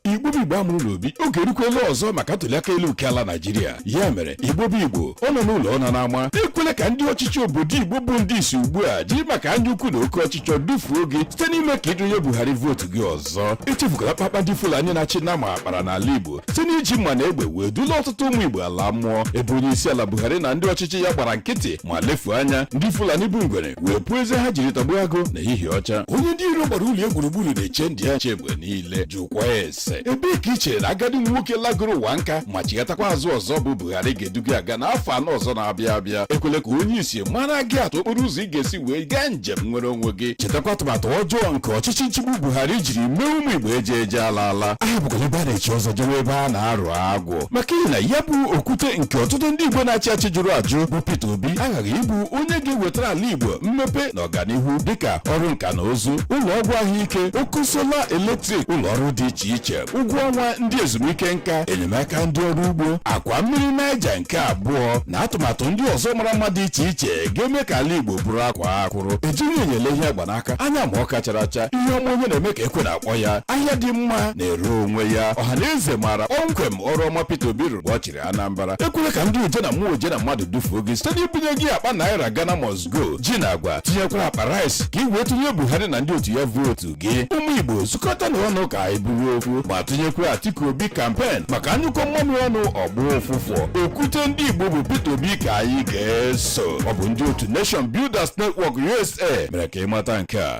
igbo bụ igbo a mụrụ n'obi oge erukwela ọzọ maka ntụliaka elu nke ala naijiria ya mere igbo bụ igbo ọ nọ n'ụlọ ọ nọ n'ama ekwela ka ndị ọchịchị obodo igbo bụ ndị isi ugbu a jiri maka anya ukwu na oke ọchịchọ dufuo gị site n'ime ka ị tụnye buhari vootu gị ọzọ echefukwala mkpamkpa ndị fulani na-achị nama kpara n'ala igbo site n'iji mma na egbe wee dula ọtụtụ ụmụ igbo ala mmụọ ebe onye isi ala buhari na ndị ọchịchị ya gbara nkịtị ma lefuo anya ndị fulani bụ ngwere wee puo eze ha jiri tagbuo agụ na ehihie ọcha onye ndị iro gbara ụlọ ya gburugburu na-eche ndụ ya nche mgbe niile jụkwaa ese ebee ka i chere na agadi nwoke lagoro ụwa nka ma chighatakwa azụ ọzọ bụ Buhari ga-edu gị aga n'afọ anọ ọzọ na-abịa abịa ekwele ka onye isi mara gị atụ okporo ụzọ ị ga-esi wee gaa njem nnwere onwe gị chetakwa atụmatụ ọjọọ nke ọchịchị nchịgbu Buhari jiri mee ụmụ Igbo eje eje ala ala ahapụkwala ebe a na-echi ọzọ jewe ebe a na-arụ agwụ maka ihi na ya bụ okwute nke ọtụtụ ndị Igbo na-achị achị jụrụ ajụ bụ Peter Obi aghaghị ịbụ onye ga-ewetara ala Igbo mmepe na ọganihu dịka ọrụ nka na ụzụ ụlọ ọgwụ ahụike ọkụ sola eletrik ụlọ ọrụ dị iche iche ụgwọ ọnwa ndị ezumike nka enyemaka ndị ọrụ ugbo akwa mmiri naịja nke abụọ na atụmatụ ndị ọzọ mara mma dị iche iche ga-eme ka ala igbo bụrụ akwaa akwụrụ ejighị enyo ele ihe a gba n'aka anya ma ọka chara acha ihe ọma onye na-eme ka ekwe na-akpọ ya ahịa dị mma na-ere onwe ya ọha na eze maara kpọmkwem ọrụ ọma Peter Obi rụrụ mgbe ọ chịrị Anambra ekwere ka ndị oje na mmụọ oje na mmadụ dufuo gị site n'ibunye gị akpa naira Ghana must go ji na agwa tinyekwara akpa rice ka ị wee tụnye Buhari na ndị otu ya vootu gị ụmụ igbo zukọta na ọnụ ka anyị bụrụ ofu ma tụnyekwa atiku obi kampen maka a nyụkọọ mmamịrị ọnụ ọ gbọọ ụfụfụ okwute ndị igbo bụ peter obi ka anyị ga-eso ọ bụ ndị otu nation builders network usa mere ka ị mata nke a